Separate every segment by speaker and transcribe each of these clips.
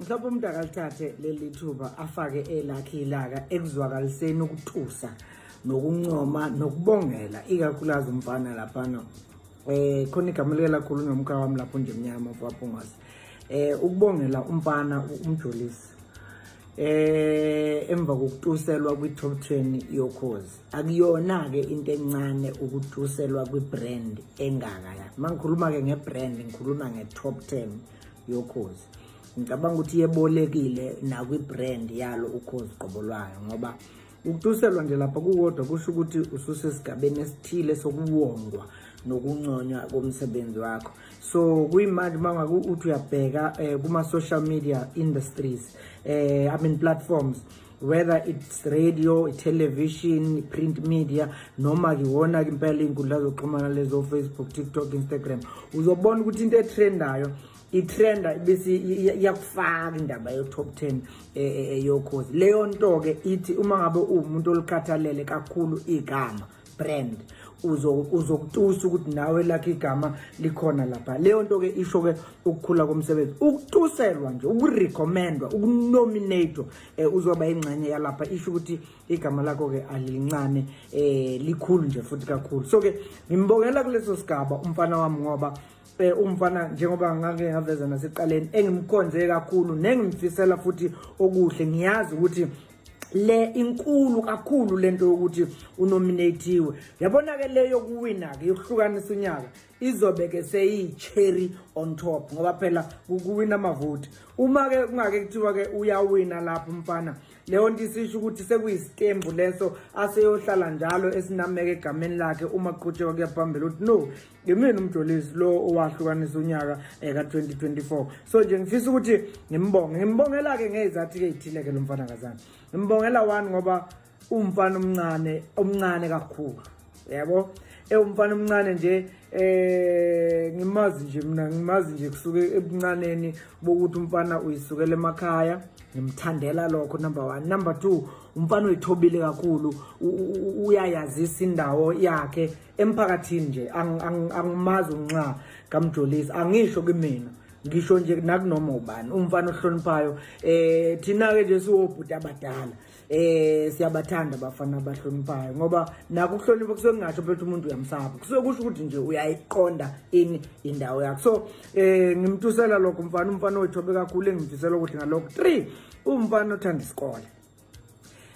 Speaker 1: mhlawumbe umuntu akalithathe leli thuba afake elakhe ilaka ekuzwakaliseni ukutusa nokuncoma nokubongela ikakhulukazi umfana laphana eh khona igama lika lakhulu nomka wami lapho nje mnyama mfwaphungwase eh ukubongela umfana umjolisi eh emva kokutuselwa kwi-top 10 yokhozi akuyona-ke into encane ukutuselwa kwi-brand engaka ya mangikhuluma-ke nge-brand ngikhuluma nge-top 10 yokhozi ngicabanga ukuthi yebolekile nakwi-brand yalo ukhozi qobo lwayo ngoba ukutuselwa nje lapha kukodwa kusho ukuthi ususesigabeni esithile sokuwongwa nokunconywa komsebenzi wakho so kuyimanje uma ngaku uthi uyabheka um kuma-social media industries um i mean platforms whether it's radio television print media noma ke wona ke impela inkundla zokuxhumana lezo Facebook TikTok Instagram uzobona ukuthi into etrendayo itrenda bese iyakufaka indaba yo top 10 eyokhozi eh, eh, eh, leyo nto ke ithi uma ngabe uwumuntu olikhathalele kakhulu igama brand uzokutusa ukuthi nawe lakhe igama likhona lapha leyo nto ke isho ke ukukhula komsebenzi ukutuselwa nje ukurecommendwa ukunominatwa eh, uzoba ingxenye yalapha isho ukuthi igama lakho ke alincane eh likhulu nje futhi kakhulu so ke ngimbongela kuleso sigaba umfana wami ngoba eh umfana njengoba ngake ngaveza naseqaleni engimkhonze kakhulu nengimfisela futhi okuhle ngiyazi ukuthi le inkulu kakhulu lento yokuthi unominatiwe yabona ke le yokuwina ke yokuhlukanisa unyaka izobe ke seyi cherry on top ngoba phela ukuwina amavoti uma ke kungake kuthiwa ke uyawina lapho mfana leyo nto isisho ukuthi sekuyisitembu leso aseyohlala njalo esinameke egameni lakhe uma kuqhutshekwa kuyaphambili ukuthi no ngemini umjolisi lo owahlukanisa unyaka um ka-2024 so nje ngifisa ukuthi ngimbonge ngimbongela-ke ngey'zathi-ke ey'thile-ke lo mfana kazana ngimbongela one ngoba umfana omncane omncane kakhulu yabo ewumfana omncane nje eh ngimazi nje mina ngimazi nje kusuke ebuncaneni bokuthi umfana uyisukela emakhaya ngimthandela lokho number 1 number 2 umfana uyithobile kakhulu uyayazisa indawo yakhe emphakathini nje angimazi unxa kamjolisi angisho kimina ngisho nje nakunoma ubani umfana ohloniphayo eh thina ke nje siwobhuti abadala eh siyabathanda abafana abahloniphayo ngoba naku ukuhlonipha kusuke kungasho phela umuntu uyamsaba kusuke kusho ukuthi nje uyayiqonda ini indawo yakhe so eh ngimtusela lokho mfana umfana oyithobe kakhulu engimfisela ukuthi ngalokho 3 umfana othanda isikole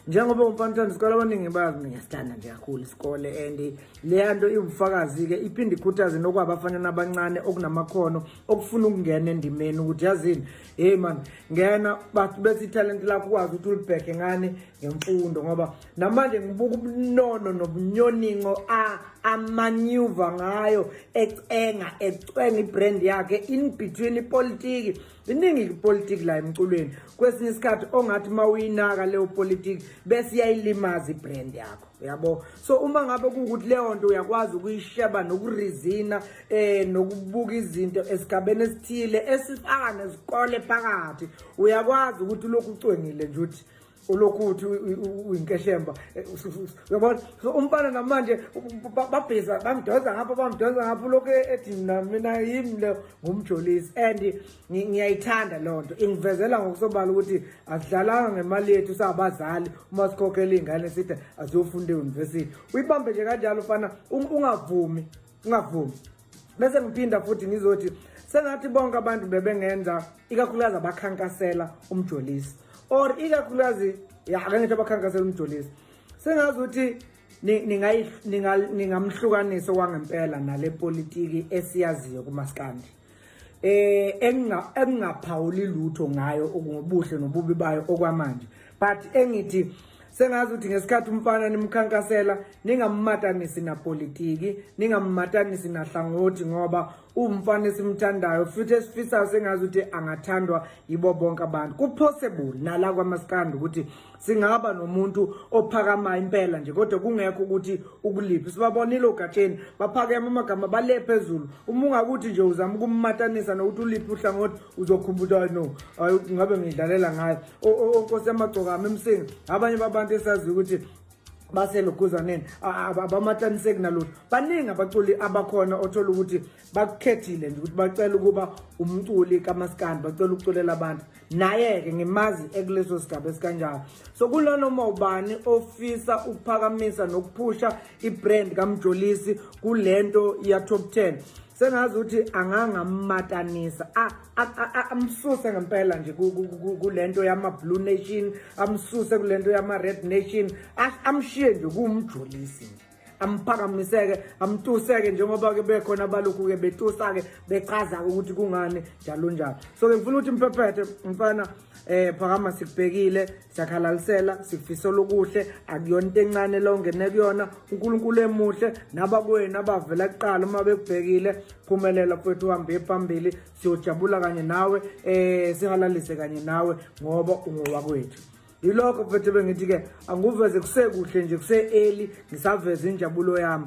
Speaker 1: njengoba umfana isikole abaningi bazi mina ngiyasilanda nje kakhulu isikole and leya nto iwubufakazi-ke iphinde ikhuthaze nokwabafanyana abancane okunamakhono okufuna ukungena endimeni ukuthi yazini heyi mani ngena bathi bethi ithalente lakho ukwazi ukuthi ulibheke ngani ngemfundo ngoba namanje ngibuka ubunono nobunyoningo a amanyuva ngayo ecenga ecwenga ibrand yakhe in between ipolitiki iningi ipolitiki la emculweni kwesinye isikhathi ongathi uma uyinaka leyo politiki bese iyayilimaza ibrand yakho uyabo so uma ngabe kuwukuthi leyo nto uyakwazi ukuyisheba nokurizina um eh, nokubuka izinto esigabeni esithile esifaka nezikole phakathi uyakwazi ukuthi ulokhu ucwengile nje ukuthi ulokhu uthi uyinkeshemba eh, uyabona so umfana namanje babhiza bamdonsa ngapha bamdonsa ngapha ulokhu e-, ethi mna mina yimi le ngumjolisi and ngiyayithanda loo nto ingivezela ngokusobala ukuthi asidlalanga ngemali yethu sabazali uma sikhokhela iy'ngane sithi aziyofunda eyunivesithi uyibambe nje kanjalo fana ungavumi ngingavumi bese ngiphinda futhi ngizothi sengathi bonke abantu bebengenza ikakhulukazi abakhankasela umjolisi or ikakhulukazi ya ake ngithi abakhankasela umjolisi sengazi ukuthi ningamhlukanisa kwangempela nale politiki esiyaziyo kumaskandi eh engingaphawuli lutho ngayo ngobuhle nobubi bayo okwamanje but engithi sengazi ukuthi ngesikhathi umfana nimkhankasela ningammatanisi napolitiki ningammatanisi nahlangothi ngoba uwumfana esimthandayo futhi esifisayo sengazi ukuthi angathandwa yibo bonke abantu kupossible nala kwamasikandi ukuthi singaba nomuntu ophakama impela nje kodwa kungekho ukuthi ukuliphi sibabonile ogatsheni baphakeme amagama bale phezulu uma ungakuthi nje uzama ukummatanisa nokuthi uliphi uhlangothi uzokhumbuta no hayi ngabe ngidlalela ngayo onkosi yamagcokama emsinga abanye babantu esaziyo ukuthi baseloguzaneni abamataniseki nalutho baningi abaculi abakhona othola ukuthi bakukhethile nje ukuthi bacela ukuba umculi kamaskandi bacela ukuculela abantu naye-ke ngimazi ekuleso sigaba esikanjalo so kunanoma ubani ofisa ukuphakamisa nokuphusha i-brand kamjolisi kule nto ya-top 10 sengazi ukuthi angangammatanisa amsuse ngempela nje kule nto yama-blue nation amsuse kule nto yama-red nation amshiye nje kuwumjolisi nje amphakamiseke amtuseke njengoba ke bekhona abalokhu ke betusa ke bechaza ukuthi kungani njalo njalo so ke ngifuna ukuthi mphephethe mfana eh phakama sikubhekile siyakhalalisela sikufisa lokuhle akuyona into encane lo ngene kuyona uNkulunkulu emuhle naba kwenu abavela kuqala uma bekubhekile phumelela mfethu uhambe phambili siyojabula kanye nawe eh sihalalise kanye nawe ngoba ungowakwethu yilokho mfethu bengithi-ke angikuveze kusekuhle nje kuse-eli ngisaveze injabulo yami